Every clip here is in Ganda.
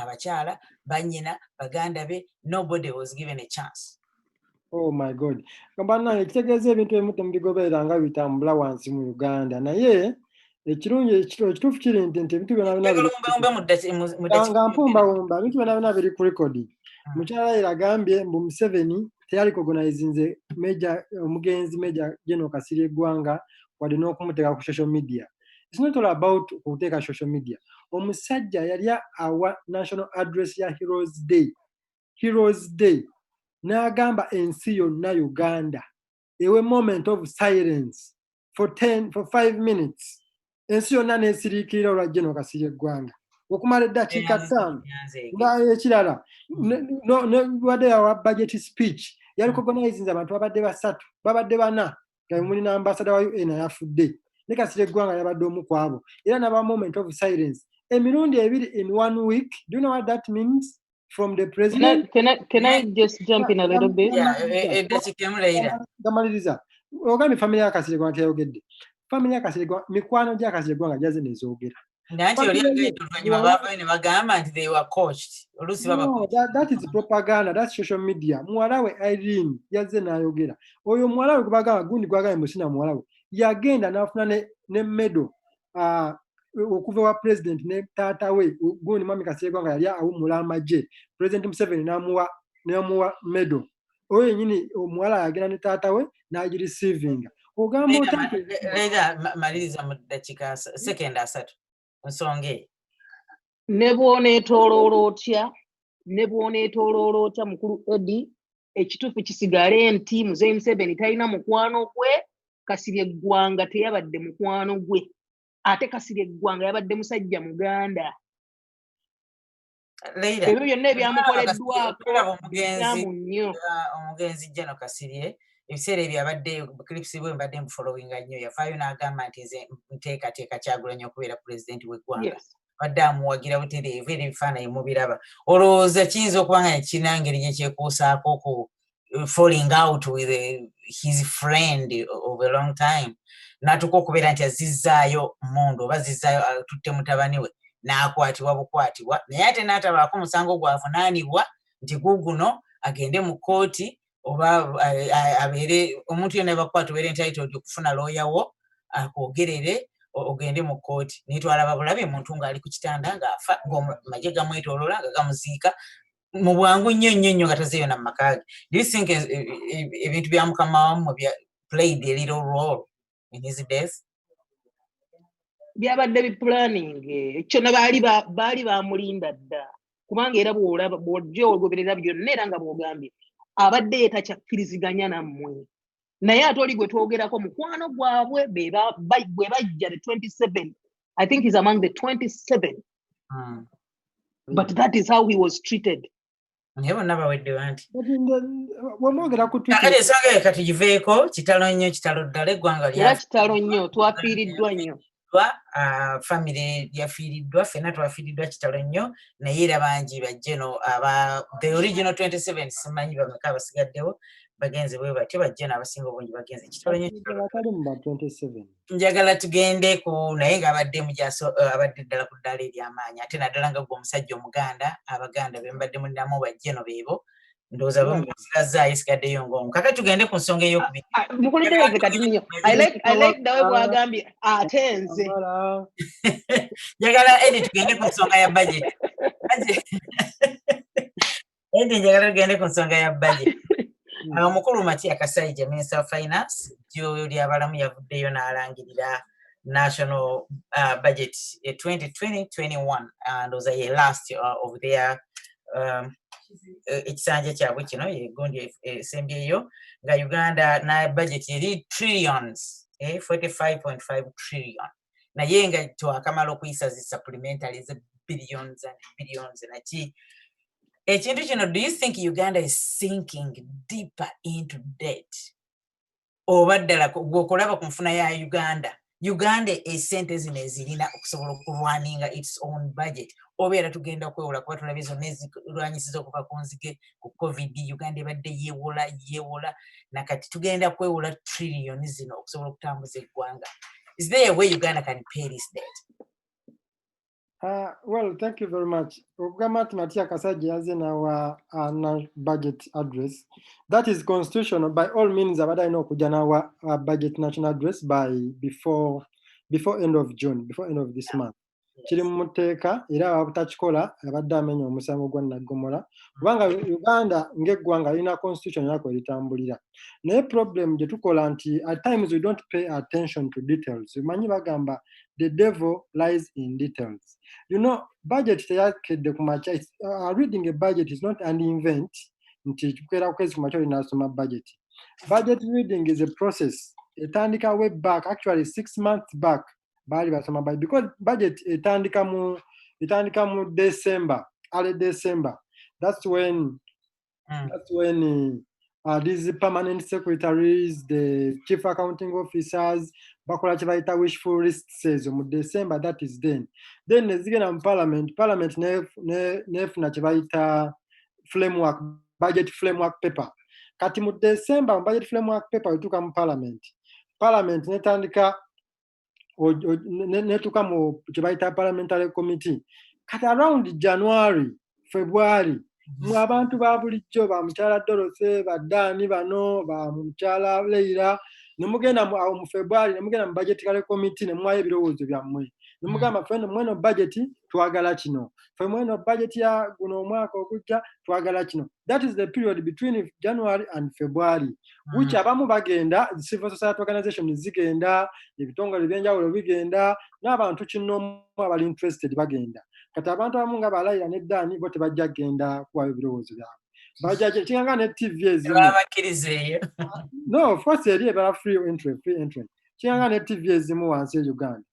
abakyala banyina baganda be nobody was given a chance oh my god banange kitegeeza ebintu ebimu temubigoberera nga bitambula wansi mu uganda naye ekirungi ekituufu kiri nti nti ebintu byonabinanga mpumbawumba ebintu byona byona biri ku rekodi hmm. mukyala era agambye mbu museveni teyali kogonizinze meja omugenzi meja geno kasiri eggwanga wadde n'okumuteeka ku social media mm. it's not all about okuteeka social media omusajja yali awa national address ya heroes day heroes day n'agamba ensi yonna uganda ewe moment of silence for 10 for 5 minutes ensi yonna nesiriikirira olwa geno kasiri eggwanga okumala eddakiika ttaano nga ekirala wadde yawa budget speech yali mm. cognizing abantu babadde basatu babadde bana nga muli na ambasada wa un ayafudde ne kasira eggwanga yabadde omu ku abo era naba moment of silence emirundi ebiri in one week do you know what that means from the president can I, can I, can I just jump in a little bit gamaliriza ogambye family ya kasira eggwanga teyayogedde family ya kasira eggwanga mikwano gya kasira eggwanga gyaze nezoogera That is propaganda, that's social media. Mwalawe Irene, yaze na yogera. Oyo mwalawe kubagala gundi kwa gaya msina mwalawe. Yagenda na afuna ne, ne medo. Uh, okuva wa president ne tata we. Gundi mami kasegwa nga yalia au mulama je. President mseveni na mua, na mua medo. oyo yenyini omuwala yagenda ne taata we nagirisiivinga ogamba otaega maliriza mu ddakiika sekenda asatu nsonga eyo ne bwoneetoloola otya ne bwoneetoloola otya mukulu edi ekituufu kisigale nti muzeyi museveni talina mukwano gwe kasirye eggwanga teyabadde mukwano gwe ate kasirye eggwanga yabadde musajja muganda ebyo byonna ebyamukoleddwako byamu nnyo omugenzi jano kasirye ebiseera ebyo abadde clips bwe mbadde mufollowing nnyo yavaayo n'agamba nti nze nteekateeka kyagulanyi okubeera pulezidenti w'eggwanga abadde amuwagira butereevu era ebifaananyi mubiraba olowooza kiyinza okuba nga kirina ngeri gyekyekuusaako ku falling out with eh, his friend of a long time natuka okubeera nti azizzaayo mundu oba zizzaayo atutte mutabani we n'akwatibwa bukwatibwa naye ate n'atabaako musango gwavunaanibwa nti guguno agende mu kkooti oba eh, abeere omuntu yona bakwata obeere entitled okufuna looya wo akwogerere ogende mu kkooti naye twalaba bulabi muntu ng'ali ku kitanda ng'afa ng'amagye gamwetolola nga gamuziika mu bwangu nnyo nnyo nnyo nga tazeeyo na mumaka ge do you think eh, eh, eh, ebintu bya mukama wamu bya played a little role in his death byabadde bipulaning kyona baali baali bamulinda dda kubanga era bwolaba bwojja ogoberera byonna era nga bwogambye abadde ye takyakkiriziganya nammwe naye ate oli gwe twogerako mukwano gwabwe bwe bajja the 27 i think is among the 27 hmm. but that is how he was treated naye bonna bawedde banti wemwogera kukale ensonga ye katugiveeko kitalo nnyo kitalo ddala eggwanga lyakitalo nnyo twafiiriddwa nnyo yafiiriddwa famire yafiiriddwa ffenna twafiiriddwa kitalo nnyo naye era bangi bajje no aba the original 27 simanyi bameka abasigaddewo bagenze bwe batyo bajje n'abasinga obungi bagenze kitalo nnyo njagala tugende ku naye ng'abadde mujaso abadde ddala ku ddaala ery'amaanyi ate naddala nga gwe omusajja omuganda abaganda be mbadde mulinamu bajje no beebo ndowooza bamuzirazzaayo esigaddeyo ng'omu kakati tugende ku nsonga ey'okubiri ah, ah, mukulembeze kati nyo nawe bwagambye ate nze njagala edi tugende ku nsonga ya budget edi njagala tugende ku nsonga ya budget hmm. awo mukulu matia kasaija minister of finance jyoyo lyabalamu yavuddeyo n'alangirira national uh, budget 2020 eh, 21 uh, ndowooza ye last uh, of their um, e, ekisanja kyabwe kino egundi e, esembyeyo nga uganda na budget eri trillions 45.5 eh, trillion naye nga twakamala okuyisa zi supplementary ze billions and billions naki ekintu kino do you think uganda is sinking deeper into debt oba ddala gweokulaba ku nfuna ya uganda uganda esente zino ezirina okusobola okulwaninga its own budget obeera tugenda okwewola kuba tulabye zonna ezirwanyisiza okuva ku nzige ku covid uganda ebadde yewola yewola nakati tugenda kwewola trillion zino okusobola okutambuza eggwanga is there a way uganda can pay this debt Uh, well, thank you very much. Ukama tunatia kasaji yaze na wa uh, na budget address. That is constitutional. By all means, abada ino kuja na wa uh, budget national address by before before end of June, before end of this month. kiri mu muteeka era abatakikola abadde amenya omusango gwa naggomola kubanga uganda ng'eggwanga lirina constitution yako eritambulira naye problem gye tukola nti at times we don't pay attention to details manyi bagamba the devil lies in details you know budget teyakedde ku makya uh, reading a budget is not an event nti kukera kwezi ku makya olinasoma budget budget reading is a process etandika way back actually six months back baali basoma budget because budget etandika mu etandika mu december early december that's when Mm. That's when uh, uh, these permanent secretaries, the chief accounting officers, bakola kyebayita wishful lists ezo mu december that is then then nezigenda mu parliament parliament nefuna kyebayita framework budget framework paper kati mu december mu budget framework paper wetuuka mu parliament parliament netandika netuka mu kyebayita parliamentary committee kati around january february mu mm-hmm. abantu ba bulijjo ba mukyala dorothy badaani bano ba mukyala leira nemugenda awo mu february nemugenda mu budgetary committee nemwayo ebirowoozo byammwe nemugamba mm. feno mweno budget twagala kino ffe mweno budget ya guno omwaka ogujja twagala kino that is the period between january and february which mm. abamu bagenda civil society organization zigenda ebitongole ebyenjawulo bigenda n'abantu kinoomu abali interested bagenda kati abantu abamu nga balayira ne daani bo tebajja kugenda kuwayo ebirowoozo byabwe bajajekinganga ne tv ezimu no of course eri ebala free entry free entry kiyanga ne tv ezimu wansi e uganda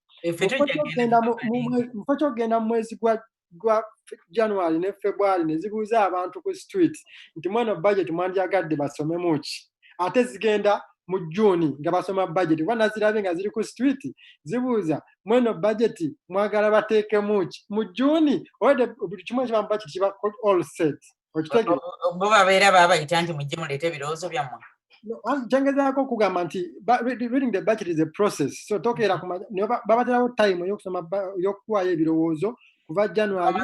mufo kyokugenda mu mwezi gwa gwa january ne february ne zibuuza abantu ku street nti mweno budget mwandyagadde basomemu ki ate zigenda mu juni nga basoma budget kuba nazirabye nga ziri ku street zibuuza mweno budget mwagala bateekemu ki mu juni obadde buli kimu ekiba mu budget kiba all set bo babeera babayita nti mujje muleete ebirowoozo byammwe kyengezaako okugamba nti reading the budget is a process so tokeera babaterawo time eyokusoma eyokuwaayo ebirowoozo kuva january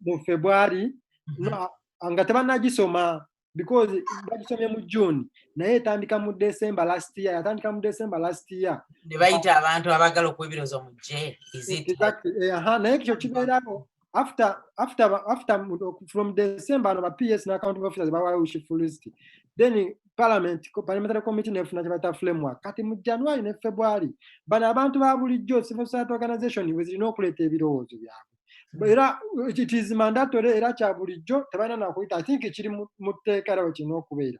mu february mm-hmm. nga tebanagisoma because bagisomye mu june naye etandika mu december last year yatandika mu december last year nebayita abantu abagala okuwa ebirowoozo mujje naye ekyo kibeerawo after after after from december ano ba ps na accounting officers bawayo ushifu list then parliament parliamentary committee nefuna kyebata framework kati mu january ne february bano abantu ba bulijjo civil society organization wezirina okuleeta ebirowoozo byabwe hmm. era it is mandatory era kya bulijjo tebalina nakuyita i think kiri mu tteeka era wekirina okubeera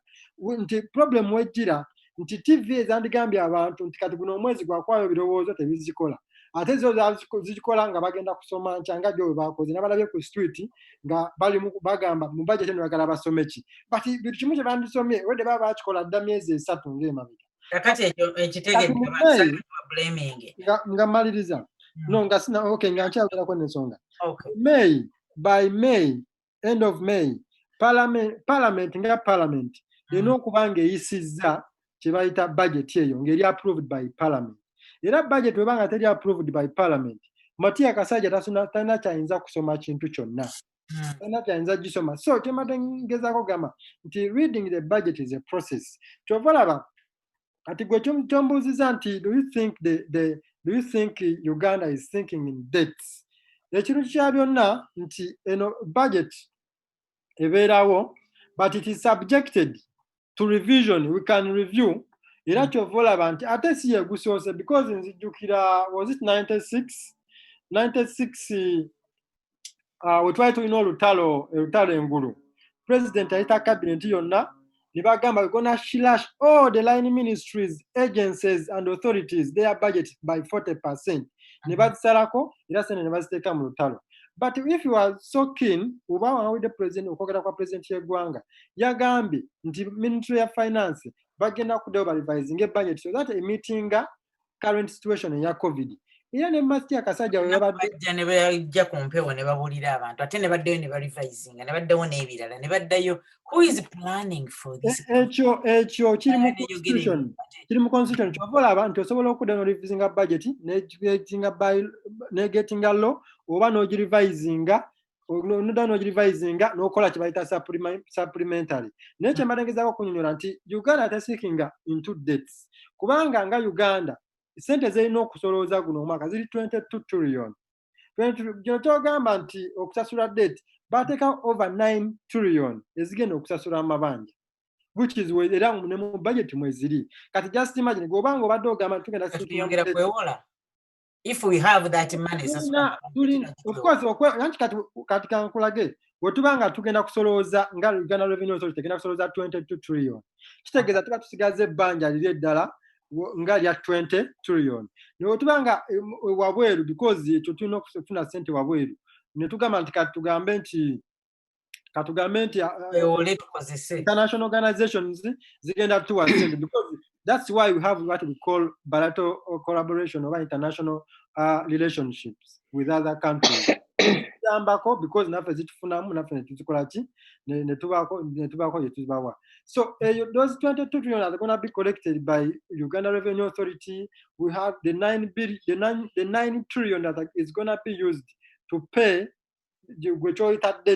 nti problem wejjira nti tv ezandigambye abantu nti kati guno omwezi gwakwayo ebirowoozo tebizikola ate zo zikikola nga bagenda kusoma nkyanga gyo webakoze nabalabye ku street nga bali bagamba mu bajeti eno bagala basome ki but bintu kimu kye bandisomye wede baba bakikola dda myezi esatu ngaemabega kakati ekyo ekitegeenga mmaliriza hmm. no nga sina ok nga nkyayogerako nensonga may by may end of may parliament nga parliament hmm. erina okuba ngaeyisizza kyebayita budget eyo ngaeri approved by parliament era budget weba nga teri approved by parliament matiya kasajja talina kyayinza kusoma kintu kyonna hmm. talina kyayinza gisoma so kyemate ngezako gamba nti reading the budget is a process kyova laba kati gwe kyombuuziza nti do you think the, the, do you think uganda is thinking in dates ekintu kya byonna nti eno budget ebeerawo but it is subjected to revision we can review era hmm. kyova olaba nti ate si yegusoose because nzijjukira was it 96 96 ah, we twali tulina olutalo olutalo engulu president ayita cabinet yonna ne bagamba we gonna shilash all the line ministries agencies and authorities their budget by 40 percent ne mm-hmm. bazisalako era sente ne baziteeka mu lutalo but if you are so keen oba wawulidde president okwogera kwa president y'eggwanga yagambye nti ministry ya finance bagenda kuddayo balivisinga ebudget so that emitinga current situation eya covid era ne masti akasajja webabajja ne bajja ku mpewo ne babulira abantu ate ne baddayo ne barivisinga ne baddawo n'ebirala ne baddayo ekyo ekyo kiri mu constitution kiri mu constitution kyova olaba nti osobola okudda norivisinga budget negetinga law oba nogirivisinga noda nogirivisinga nokola kyebayita supplementary naye kyembadde ngezaako okunyonyola nti uganda tesikinga into dates kubanga nga uganda sente zirina okusolooza guno omwaka ziri 22 trillion kino kyogamba nti okusasula date bateeka over 9 trillion ezigenda okusasula amabanja which is era ne mu budget mweziri kati just imagine gobanga obadde ogamba tugenda kwewola if we have that money sasula of course okwa nanti kati kati kan kulage wetuba nga tugenda kusolooza nga Uganda Revenue Authority tegenda kusolooza 22 trillion kitegeza tuba tusigaze banja lile dala nga lya 20 trillion ne wetuba nga eh, wabweru because tutuna kufuna sente wabweru ne tugamba nti kati tugambe nti katugambe nti international organizations zigenda tuwa because that's why we have what we call bilateral collaboration oba international uh, relationships with other countries tuyambako because naffe zitufunamu naffe netuzikola ki netubaako gyetuzibawa so eyo eh, those 22 trillion are gonna be collected by uganda revenue authority we have the 9 billion the 9, the 9 trillion that is gonna be used to pay gwe kyoyitadde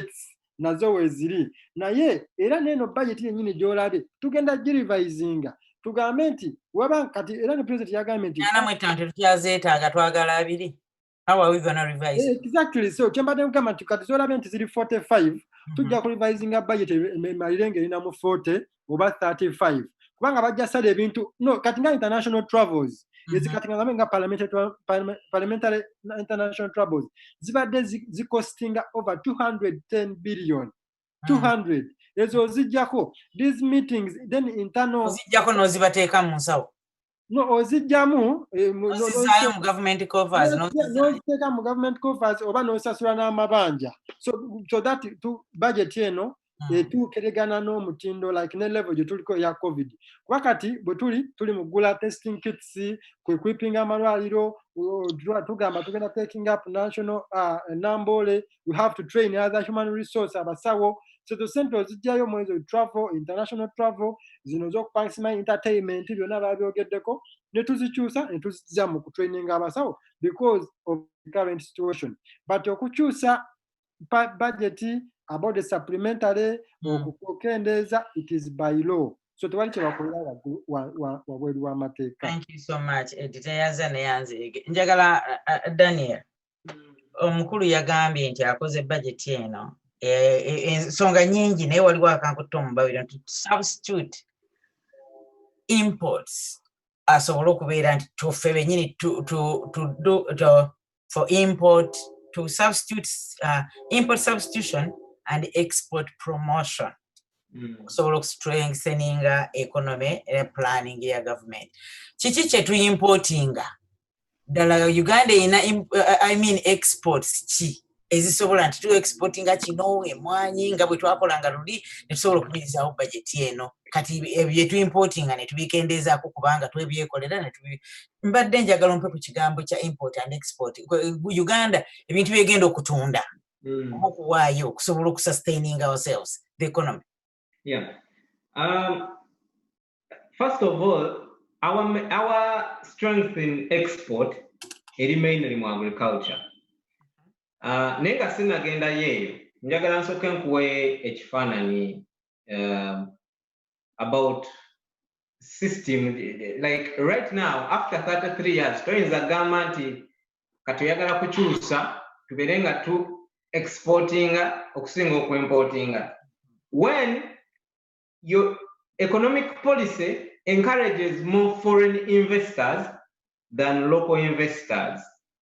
nazo weeziri naye era neeno bajeti yennyini gy'olabye tugenda girivayizinga tugambe nti waba kati era ne pulezidenti yagambye nti ana mwettanti tukyazeetaaga twagala abiri exactly so kyembadde kugamba nti kati zolabye nti ziri 45 hmm. tujja ku revisinga budget emalire nga erina mu 40 oba 35 kubanga bajja sala ebintu no kati nga international travels mhm. ezikatingaabe nga parliamentary international travels zibadde zicostinga over 210 billion 200 mhm. ezo ozijjako these meetings then internalozijjako nozibateeka mu nsawo no ozijjamu eh, mu- no- ozizaayo mu government covers no- n'oziteeka mu government coffers oba n'osasula n'amabanja so so that tu budget eno Mm. etuukiregana n'omutindo like ne level gye tuliko eya covid kuba kati bwe tuli tuli mu kugula testing kits kwe kwipinga amalwaliro o- tu- tugamba tugenda taking up national uh, nambole we have to train other human resource abasawo so to sente ozijjayo omwezi oyo travel international travel zino z'okupangisimayo entertainment byonna babyogeddeko ne tuzikyusa ne tuzijja mu kutraininga abasawo because of the current situation but okukyusa budget about the supplementary hmm. okukendeeza it is by law so tewali kyebakolera waggulu wabweru w'amateeka thank you so much editeyaza neyanziige njagala uh, uh, daniel omukulu yagambye nti akoze bajeti eno e, e, ensonga nyingi naye waliwo akankutta omubabiro nti substitute imports asobole okubeera nti tuffe benyini for import to substitute uh, import substitution and export promotion Mm. okusobola okustrengtheninga economy era planning ya government kiki kyetuimportinga ddala uganda erina uh, i mean exports ki ezisobola nti tuwa export nga kino emwanyi nga bwe twakolanga luli netusobola okuyirizawo bajeti eno kati byetuimportinga netubikendeezaako kubanga twebyekolera mbadde njagala ompe ku kigambo kya import and export uganda ebintu byegenda okutunda hmm. oba okuwaayo okusobola okusustaining ourselves the economy Yeah. Um, first of all, our, our strength in export eri mainly mu agriculture. Uh, naye nga sinagenda yeeyo njagala nsooke nkuwe ekifaananyi um, about system like right now after 33 years toyinza gamba nti kati oyagala kukyusa tubeere nga tu exportinga okusinga okuimportinga when your economic policy encourages more foreign investors than local investors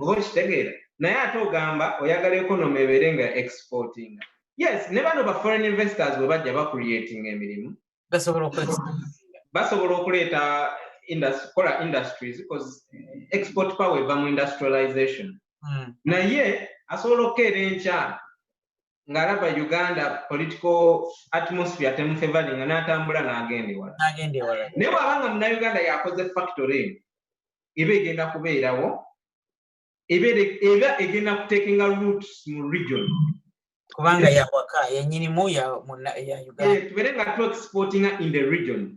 oba okitegeera naye ate ogamba oyagala economy ebeere nga exporting yes ne bano ba foreign investors bwe bajja bacreating emirimu basobola okuleeta kola industries because export power eva mu industrialization hmm. naye asobola okukeera enkya ng'alaba uganda political atmosphere temufevalinga n'atambula n'agenda ewala naye bw'aba nga munauganda yakoze factory eno eba egenda kubeerawo eba egenda kutekinga roots mu region kubanga yawaka yenyinimu ya uganda eh, tubeere nga tu exportinga in the region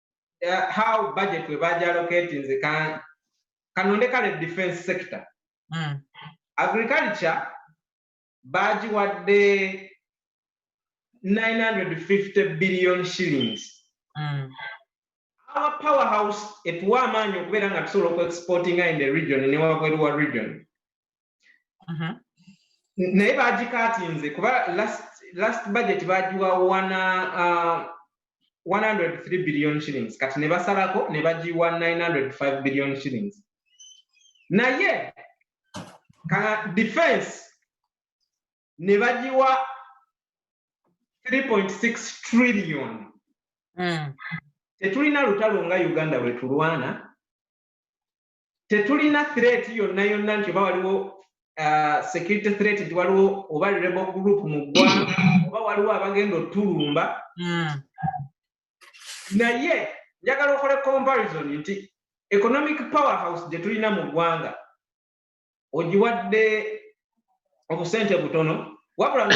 uh, how budget we bagyalocating nze kanonde kale defense sector mm. agriculture bagiwadde 950 billion shillings mm. our power house etuwa amaanyi okubeera nga tusobola okuexportinga in the region newabweru wa region mhm. naye bagikatinze kuba last budget bagiwa wana 103 uh, billion shillings kati ne basalako ne bagiwa 905 billion shillings naye ka defense ne bagiwa 3.6 trillion mm. tetulina lutalo nga uganda lwetulwana tetulina threat yonna yonna nti oba waliwo uh, security threat nti waliwo oba rebo group mu ggwanga oba waliwo abagenda otulumba hmm. naye njagala okole comparison nti economic power house gye tulina mu ggwanga ogiwadde obusente butono wabula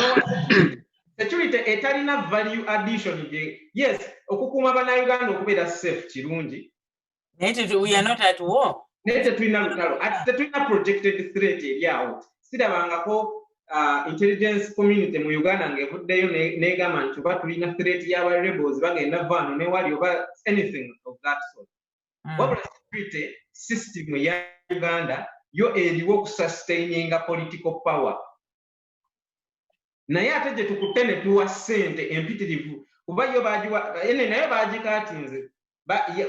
security etalina value addition gye yes okukuuma banauganda okubeera safe kirungi naye tetulina lutalo ati tetulina projected threat eri awo sirabangako uh, intelligence community mu uganda ng'evuddeyo negamba nti oba tulina threat yaba rebels bagenda vaano newali oba anything of that sort hmm. wabula security system ya uganda yo eriwo okusustaininga political power naye ate gye tukutte ne tuwa ssente empitirivu kuba yo bagiwa ene nayo bagikaatinze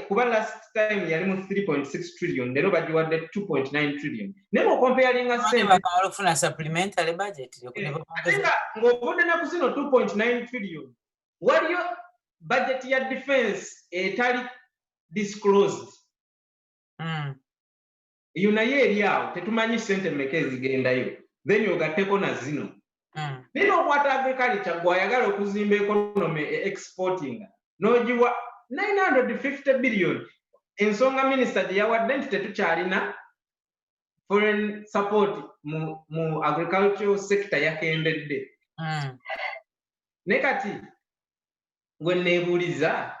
kuba last time yali mu 3.6 trillion leero bagiwadde 2.9 trillion naye mukompeyalinga sentefuna supplementary budget eh, ng'ovudde naku zino 2.9 trillion waliyo budget ya defense etali disclosed hmm. eyo naye eri awo tetumanyi sente meka ezigendayo then ogatteko na zino hmm. naye nokwata agrikalikya gwe ayagala okuzimba ekonome e exportinga nogiwa 950 billion ensonga minisita gye yawadde nti tetukyalina foreign support mu, mu agricultural sector yakendedde hmm. ne kati gwe nebuuliza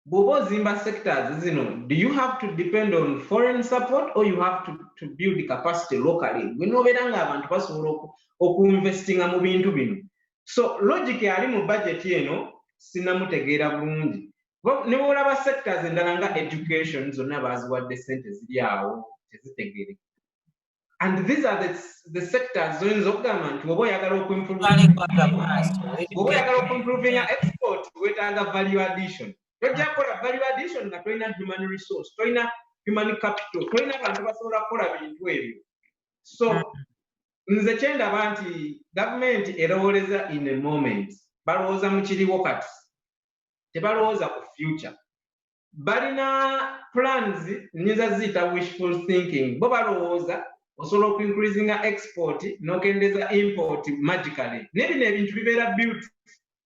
bw'oba ozimba sectors zino do you have to depend on foreign support or you have to, to build capacity locally gwe nobeera nga abantu basobola okuinvestinga mu bintu bino so logic ali mu budget eno sinamutegeera bulungi ne bwolaba sectors endala nga education zonna baaziwadde sente ziri awo tezitegeere and these are the, the sectors zoyinza okugamba nti oba oyagala okuimproveoba oyagala okuimprovinga export wetaaga value addition tojja kukola value addition nga tolina human resource tolina human capital tolina bantu basobola kukola bintu ebyo so nze kyendaba nti gavumenti erowoleza in a moment balowooza mukiriwo kati tebalowooza ku future balina plans nyinza ziyita wishful thinking bo balowooza osobola okuincreasinga export nokendeza import magically naye bino ebintu bibeera built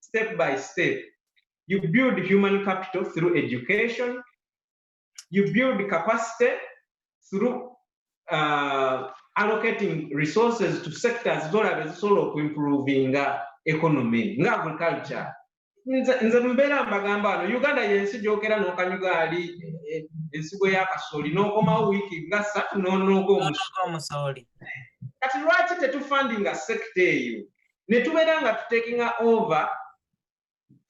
step by step you build human capital through education you build capacity through uh, allocating resources to sectors zolaba ezisobola okuimprovinga economy nga agriculture nze nze mbeera mbagamba wano uganda yensi gyogera nokanyuga ali e, e, ensigo yakasooli nokomawo wiiki nga satu nonoga omusooli kati lwaki tetufandinga sekita eyo netubeera nga tutekinga over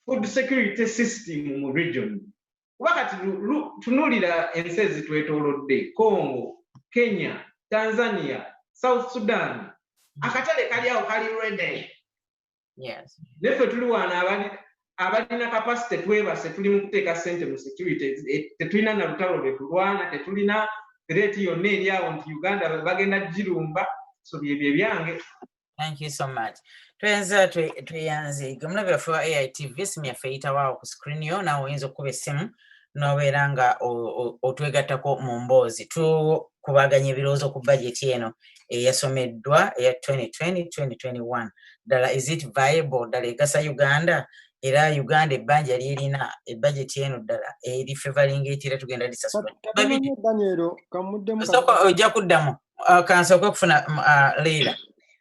food security system mu region kuba kati tunulira ensi ezitwetolodde congo kenya tanzania south sudan akatale kali awo kali rede neffe tuli waana abalina kapasite twebase tuli mu kuteeka ssente mu security eh, tetulina na lutalo lwe tulwana tetulina reeti yonna eri awo nti uganda bagenda girumba so byebyo ebyange thank you so much twenza tweyanze gemulabe yaffe wa aitv esimu yaffe eyitawo awo ku screen yo nawe oyinza okukuba essimu n'obeera nga otwegattako mu mboozi tukubaganya ebirowoozo ku bajeti eno eyasomeddwa eya 2020-2021 ddala is it viable ddala egasa uganda era uganda ebbanja lyerina ebajeti eno ddala eri fevalinga etera tugenda lisasulaoka ojja kuddamu uh, kansooka okufuna uh, leira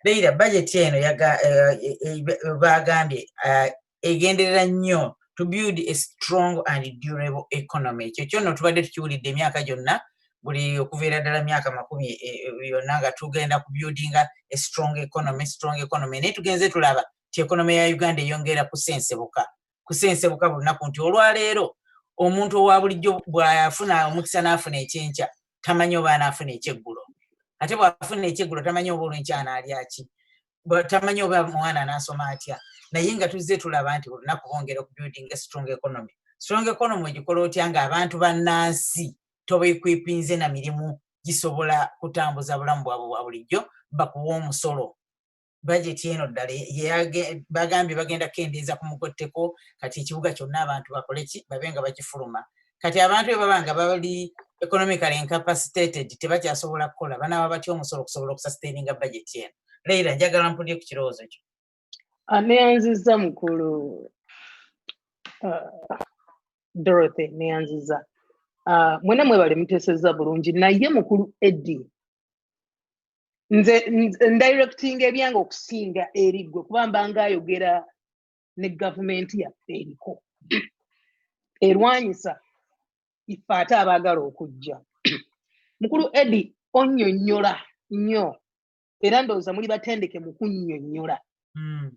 leira bajeti eno uh, e, e, e, bagambye egenderera nnyo to build a strong and durable economy ekyo kyonno tubadde tukiwulidde emyaka gyonna buli okuviira ddala myaka makumi e, e, yonna nga tugenda ku buildinga a strong economy strong economy naye tugenze tulaba ti economy ya uganda eyongeera kusensebuka kusensebuka bulunaku nti olwaleero omuntu owa bulijjo bwafuna omukisa n'afuna ekyenkya tamanyi oba anaafuna ekyeggulo ate bwafuna ekyeggulo tamanyi oba olwenkyana alyaki tamanyi oba omwana anasoma atya naye nga tuzze tulaba nti olunaku bongera okubuilding a strong economy strong economy ogikola otya nga abantu bannansi tobekwipinze na mirimu gisobola kutambuza bulamu bwabwe bwa bulijjo bakuwa omusolo bajeti eno ddala bagambye bagenda kukendeeza ku mugotteko kati ekibuga kyonna abantu bakole ki babe nga bakifuluma kati abantu be baba nga bali economical incapacitated tebakyasobola kukola banaaba batya omusolo okusobola okusastaininga bajeti eno leira njagala mpulire ku kirowoozo kyo aneyanziza mukulu uh, dorothy neyanziza uh, mwena mwebale muteseza bulungi naye mukulu eddi nze ndirectinga ebyange okusinga eriggwe kuba mbanga ayogera ne gavumenti yaffe eriko erwanyisa ife ate abaagala okujja mukulu edi onyonyola nnyo era ndowooza muli batendeke mu kunnyonnyola hmm.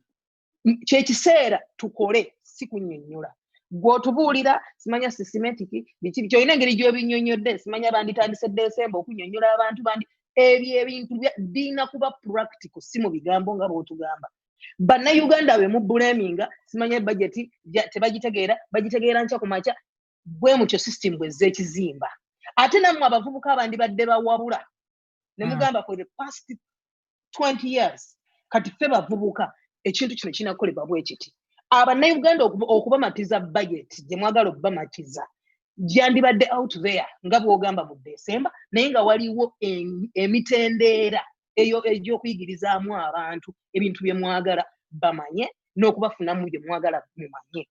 kyekiseera tukole si kunnyonnyola gwotubuulira simanya sisimentiki biki biki olina engeri gyobinnyonnyodde simanya banditandise desemba okunnyonnyola abantu bandi ebyo ebintu birina kuba practical si mu bigambo nga bwotugamba bannayuganda be mubbuleminga simanya bajeti tebagitegeera bagitegeera nkya ku makya bwe mutyo system bwezza ekizimba ate nammwe abavubuka abandibadde bawabula ne mm. mugamba for the past 20 years kati ffe bavubuka ekintu kino kinakolebwa bwekiti abanauganda okubamatiza budget gye mwagala okubamatiza gyandibadde out there nga bwogamba mu desemba naye nga waliwo emitendeera eyo egyokuyigirizaamu abantu ebintu bye mwagala bamanye n'okubafunamu bye mwagala mumanye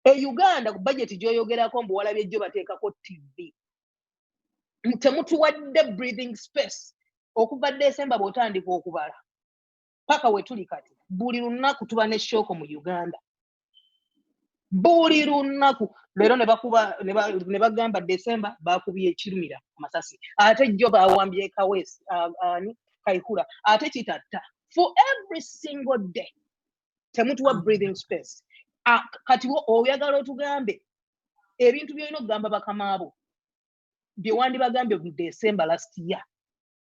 e uganda ku bajeti gyoyogerako mbu walabye jjo bateekako tv temutuwadde breathing space okuva desemba bwotandika okubala paka wetuli kati buli lunaku tuba ne shooko mu uganda buli lunaku leero ne bagamba desemba bakubye ekirumira amasasi ate jjo bawambye kawesi ani kaihura ate kitatta for every single day temutuwa mm. breathing space ah, kati oyagala otugambe ebintu byolina okugamba bakamaabo bye wandibagambye mu december last year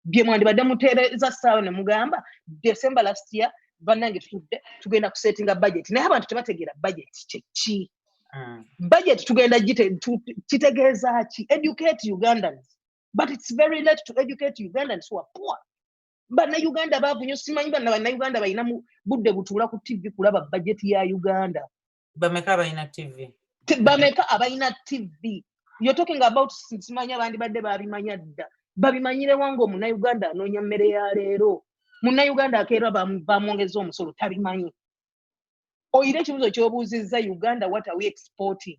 bye mwandibadde muteereza saawa ne mugamba december last year bannange tutudde tugenda kusetinga budget naye abantu tebategeera budget kyeki mm. budget tugenda kitegeeza ki educate ugandans but it's very late to educate ugandans who are poor bannayuganda baavu nyo simanyi banna bannayuganda balina mu budde butuula ku tv kulaba bajeti ya uganda bameka abalina tv bameka abalina tv you're talking about simanya abandi badde babimanya dda babimanyirewo nga omunauganda anoonya mmere ya leero munauganda akeera bamwongeza omusolo tabimanyi oyira ekibuzo kyobuuzizza uganda what are we exporting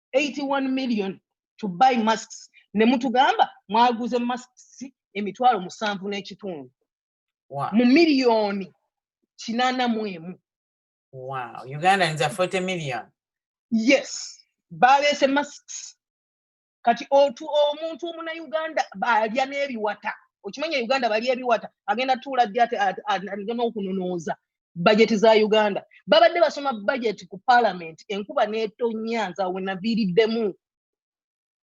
81 million to buy masks ne mutugamba mwaguze masks emitwalo musanvu n'ekitundu mu miliyoni kinana mu emu wow uganda nza 40 million yes baleese masks kati otu omuntu omuna uganda balya n'ebiwata okimanya uganda balya ebiwata agenda tuula ddi ate n'okunonooza bajeti za uganda babadde basoma bajeti ku palamenti enkuba netonya nza wenaviiriddemu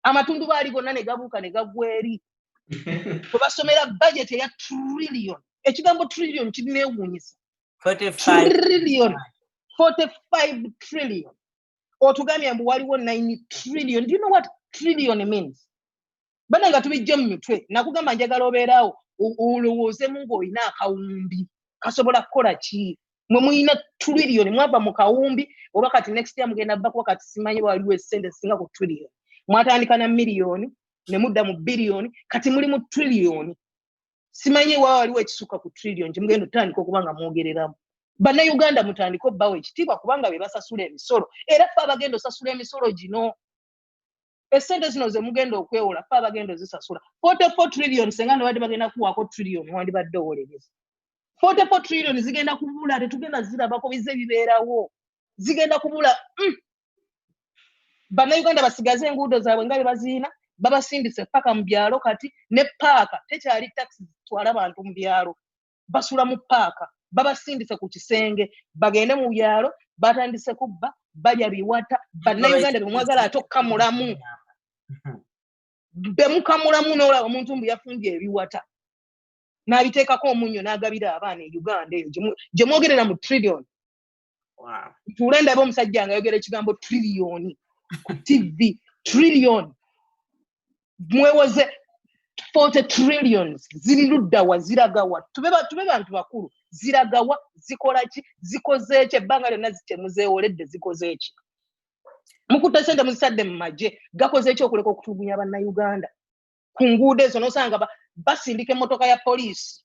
amatundu baali gonna ne gabuuka ne gagwa eri we basomera bajeti eya trillion ekigambo trillion kirinewuunyisa trillion 45 trillion otugambye mbu waliwo 9 trillion do you know what trillion means bana nga tubijje mu mitwe nakugamba njagala obeerawo olowoozemu ng'olina akawumbi kasobola kukola ki mwe mulina tuliriyoni mwava mu kawumbi oba kati next year mugenda bba kuba kati simanyi waliwo esente singa ku tuliriyoni mwatandika na miliyoni ne mudda mu biliyoni kati muli mu tuliriyoni simanyi wa waliwo ekisukka ku tuliriyoni kyemugenda otandika okuba nga mwogereramu bannayuganda mutandika obbawo ekitiibwa kubanga be basasula emisolo era fe abagenda osasula emisolo gino esente zino zemugenda okwewola fe abagenda ozisasula 44 trillion senga nobadde bagenda kuwaako trillion wandibadde owolereza 44 trillion zigenda kubula tetugenda zirabako bize bibeerawo zigenda kubula mm. bannayuganda basigaze enguudo zaabwe nga bebaziina babasindise paka mu byalo kati ne paaka tekyali taxi zitwala bantu mu byalo basula mu paaka babasindise ku kisenge bagende mu byalo batandise kubba balya biwata bannauganda bemwagala ate okukamulamu hmm. bemukamulamu nolaba omuntu mbu yafumbye ebiwata n'abiteekako omunyo n'agabira abaana e uganda eyo gye mwogerera mu trillion ntuule ndaba omusajja nga ayogera ekigambo triliyoni ku tv triliyoni mwewoze forty trillions ziri luddawa ziragawa tube bantu bakulu ziragawa zikola ki zikoze ki ebbanga lyonna zitemuzeewoledde zikoze ki mukutte sente muzisadde mu magye gakoze ki okuleka okutulugunya bannayuganda ku nguudo ezo nosanga basindika emmotoka ya poliisi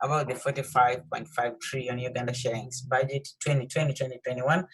about the 45.5 trillion Uganda shillings budget 2020-2021.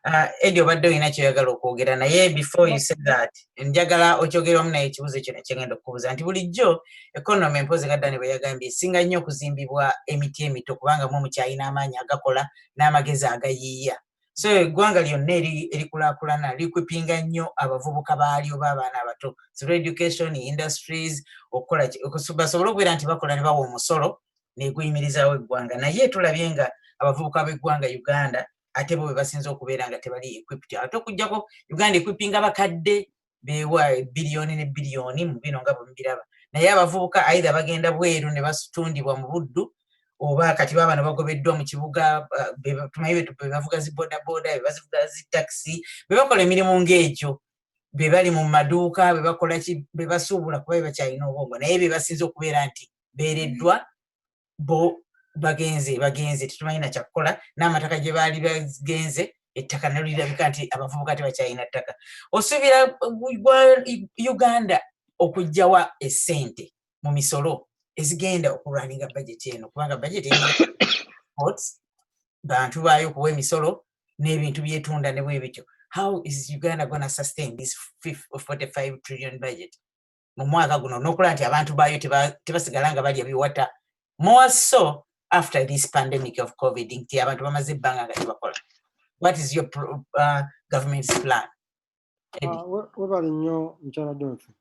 Uh, Eddie obadde olina kyoyagala okwogera naye before you say that njagala okyogeramu naye ekibuuzo ekyo nekyengenda okubuuza nti bulijjo economy mpozi nga dani bwe yagambye esinga nnyo okuzimbibwa emiti emito kubanga mwe mukyalina amaanyi agakola n'amagezi agayiiya so eggwanga lyonna erikulakulana likwipinga nnyo abavubuka baalyo baabaana abato through education industries okukola basobole okubeera nti bakola ne bawa omusolo neguyimirizaawo eggwanga naye tulabye nga abavubuka b'eggwanga uganda ate bo bebasinza okubeera nga tebali equipt ate okujjako uganda equipinga bakadde bewa ebiliyoni ne biliyoni mu bino nga bwemubiraba naye abavubuka aidha bagenda bweru ne basitundibwa mu buddu oba kati baba ne bagobeddwa mu kibuga tumanyi bebavuga zi bodaboda bebazivuga zi takisi bebakola emirimu ng'egyo bebali mu maduuka bebakolaki bebasuubula kuba bebakyalina obwongo naye bebasinza okubeera nti beereddwa bo bagenze bagenze tetumanyi nakyakukola n'amataka gye baali bagenze ettaka nalo lirabika nti abavubuka tebakyalina ttaka osuubira gwa uganda okugjawa esente mu misolo ezigenda okulwaninga bajeti eno kubanga bajeti bantu baayo okuwa emisolo n'ebintu byetunda ne bwe bityo how is uganda gonna sustain this 45 trillion budget mu mwaka guno nokulaba nti abantu baayo tebasigala nga balya biwata more so after this pandemic of covid nti abantu bamaze ebbanga nga tebakola what is your uh, government's plan ah, webale nnyo mukyala donfe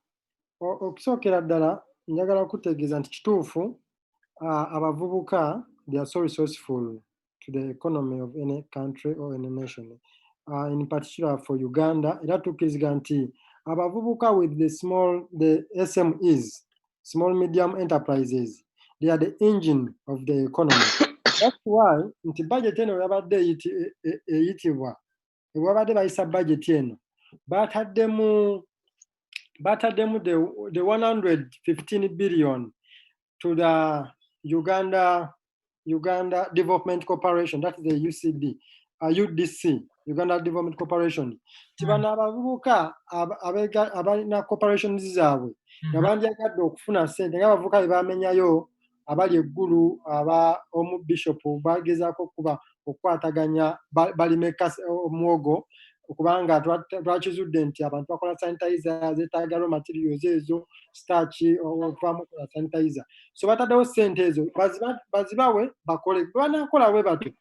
okusookera ddala njagala kutegeeza nti kituufu ah, abavubuka they are so resourceful to the economy of any country or any nation uh, in particular for uganda era tukkirizga nti abavubuka with the small the smes small medium enterprises they are the engine of the economy that's why nti budget eno yabadde eyiti- e- e- eyitibwa webabadde bayisa budget eno bataddemu bataddemu the, the 115 billion to the uganda uganda development corporation that is the ucd uh, udc uganda development corporation nti hmm. bano abavubuka abalina corporations zaabwe nga mm-hmm. bandyagadde okufuna sente nga abavubuka bebamenyayo abali eggulu aba omu bishop bagezaako okuba okukwataganya balimeka omwogo kubanga twakizudde nti abantu bakola sanitize zetagalo materials ezo staki okuvamu kola sanitize so bataddewo sente ezo bazibawe bakole banakola we batyo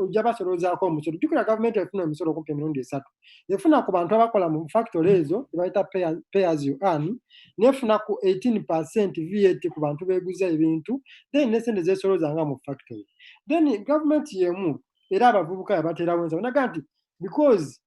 ojja basoloozaako omusolo jukira gavumenti efuna emisolo okumpa emirundi esatu efuna ku bantu abakola mu factory ezo ebayita pay as you earn nefuna ku 18 percent vat ku bantu beguza ebintu then nesente zesoloza nga mu factory then government yemu era abavubuka yabaterawo ensaba naga nti because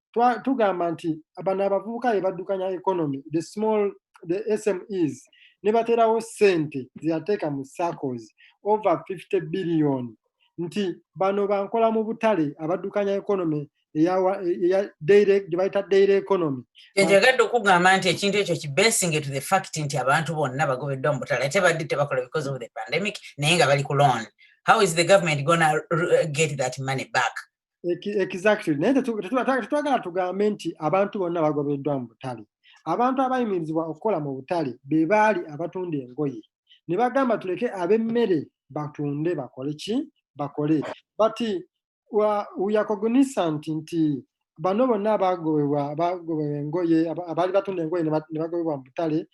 tugamba nti bano abavubuka yebaddukanya economy the small the smes nebaterawo sente zeyateeka mu circles over 50 billion nti bano bankola mu butale abaddukanya economy gyebayita daily economy enjagadde okugamba nti ekintu ekyo kibesinge to the fact nti abantu bonna bagobeddwa mu butala ate badde tebakola because of the pandemic naye nga bali ku loan how is the government gonna uh, get that money back exactly naye tetwagala tugambe nti abantu bonna bagobeddwa mu butale abantu abayimirizibwa okukola mu butale be baali abatunda engoye ne bagamba tuleke ab'emmere batunde bakole ki bakole but uyakogunisant nti bano bonna abagobebwa abagobebwa engoye abaali batunda engoye ne bagobebwa mu butale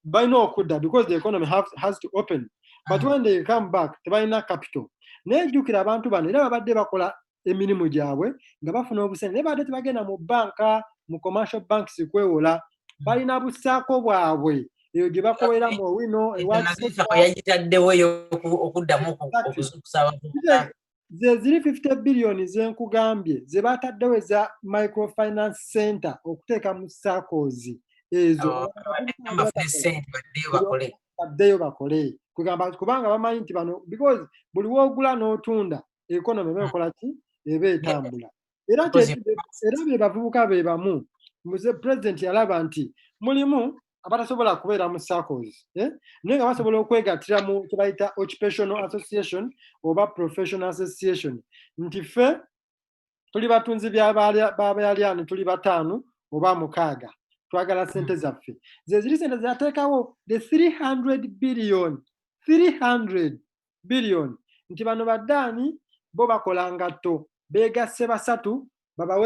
balina okudda because the economy have, has to open but when they come back tebalina capital naye jjukira abantu bano era babadde bakola emirimu gyabwe nga bafuna obusente naye babadde tebagenda mu banka mu commercial banks kwewola balina busaako bwabwe eyo gye bakolera mu owino ewayagitaddewo okuddamu okuzuukusa abantu ze ziri 50 biliyoni ze nkugambye ze baataddewo eza microfinance center okuteeka mu sakozi ezo oh, baddeyo bakole kugamba kubanga bamanyi nti bano because buli woogula n'otunda ekonomi eba ekola ki eba etambula era era be bavubuka be bamu muze president yalaba nti mulimu abatasobola kubeera mu circles eh? naye nga basobola okwegattira mu kyebayita occupational association oba professional association nti ffe tuli batunzi babayalyani tuli bataano oba mukaaga twagala hmm. sente zaffe zeziri sente zateekawo the 300 billion 300 biliyoni nti bano baddaani bo bakola ngatto beegasse basatu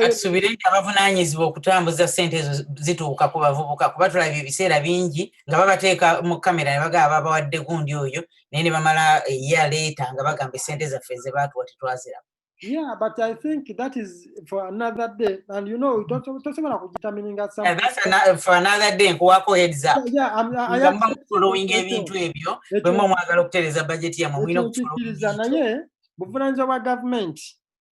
asubire nti abavunanyizibwa okutambuza sente ezo zituuka ku bavubuka kuba tulabye ebiseera bingi nga babateeka mu kamera ne bagaba babawadde gundi oyo naye ne bamala eya leeta nga bagamba esente zaffe ze baatuwa tetwaziramu Yeah, but I think that is for another day. And you know, don't don't say about determining at something. That's another for another day. Kuwako heads up. Yeah, I'm I am following ebintu ebyo. Bwe mu mwagala okutereza budget ya mu mwino kutukiza naye buvunanyiza bwa government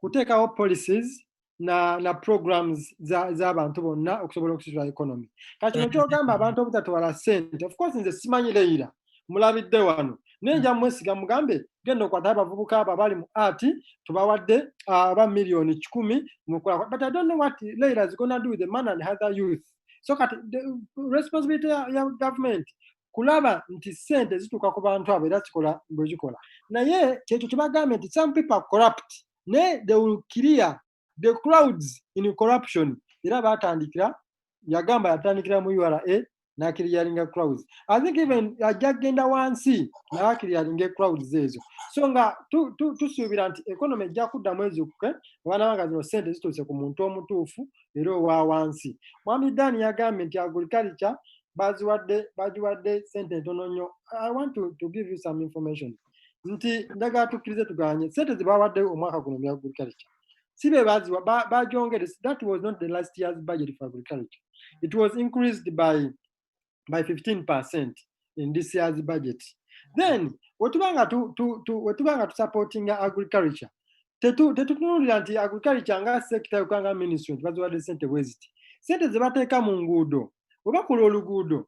kuteekawo policies na na programs za za abantu bonna okusobola okusitula economy. Kati nkyogamba abantu obutatwala sente. Of course nze simanyi leira. Mm -hmm. mulabidde wano naye nja mwesiga mugambe genda okwata abavubuka abo abali mu art tubawadde ah, aba miliyoni kikumi mukola but i don't know what leila is gonna do with the man and other youth so kati the responsibility ya, ya government kulaba nti sente zituuka ku bantu abo era kikola bwezikola naye kyekyo kyebagambe nti some people are corrupt naye they will clear the crowds in corruption era batandikira yagamba yatandikira mu ura nakiriyalinga crowds i think even ajja kugenda wansi nakiriyalinga crowds ezo so nga tusuubira nti economy ejja kudda mwezi kuke abaana banga zino sente zituuse ku muntu omutuufu era owa wansi mwami dan yagambye nti agriculture baziwadde bagiwadde sente ntono nnyo i want to, to give you some information nti ndagala tukkirize tuganye sente zebawaddeyo omwaka guno mu agriculture si be baziwa bajongere that was not the last year's budget for agriculture it was increased by by 15 percent in this year's budget then wetuba nga wetuba nga tusupportinga agriculture tetutunulira nti agriculture nga sekita yokanga ministry nti baziwadde sente bweziti sente zebateeka mu nguudo webakola oluguudo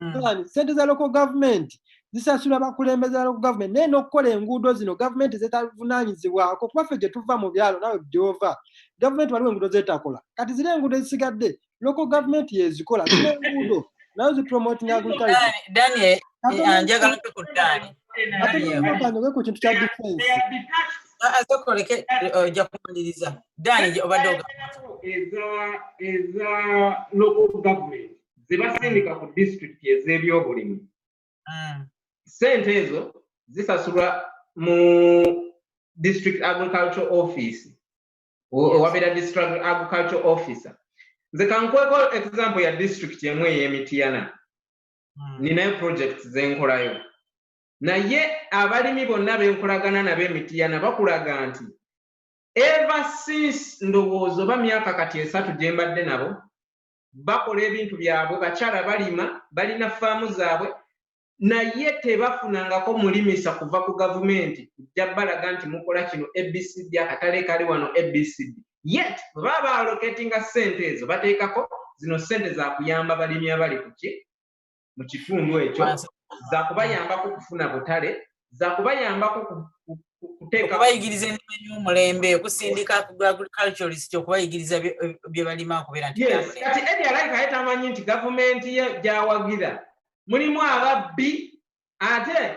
mm. sente za local government zisasula bakulembeze ba local government naye n'okukola enguudo zino gavumenti zetavunaanyizibwako kuba ffe gye tuva mu byalo nawe gyova gavumenti waliwo enguudo zetakola kati ziri enguudo ezisigadde local government yezikola zina enguudo nayo zipromoting agriculture ku kintu kya defense azokoleke ojja kumaliriza dani obadde oga eza eza local government zibasindika ku disitulikiti ez'ebyobulimi mm. sente ezo zisasulwa mu district agriculture office owabeera district agriculture officer nze kankweko example ya district emu ey'emitiyana mm. ninayo projects zenkolayo naye abalimi bonna benkolagana nabo emitiyana bakulaga nti ever since ndowooza oba myaka kati esatu gye mbadde nabo bakola ebintu byabwe bakyala balima balina faamu zaabwe naye tebafunangako mulimisa kuva ku gavumenti kujja balaga nti mukola kino abcd akatale kali wano abcd yet bwebaba baaloketinga sente ezo bateekako zino sente zakuyamba balimi abali kuki mu kitundu ekyo zakubayambako okufuna butale zakubayambako okuteekabayigiriza ennima y'omulembe okusindika ku agriculturist okubayigiriza bye balima okubeera nti kati edi alaika ye tamanyi nti gavumenti ye gyawagira mulimu ababbi ate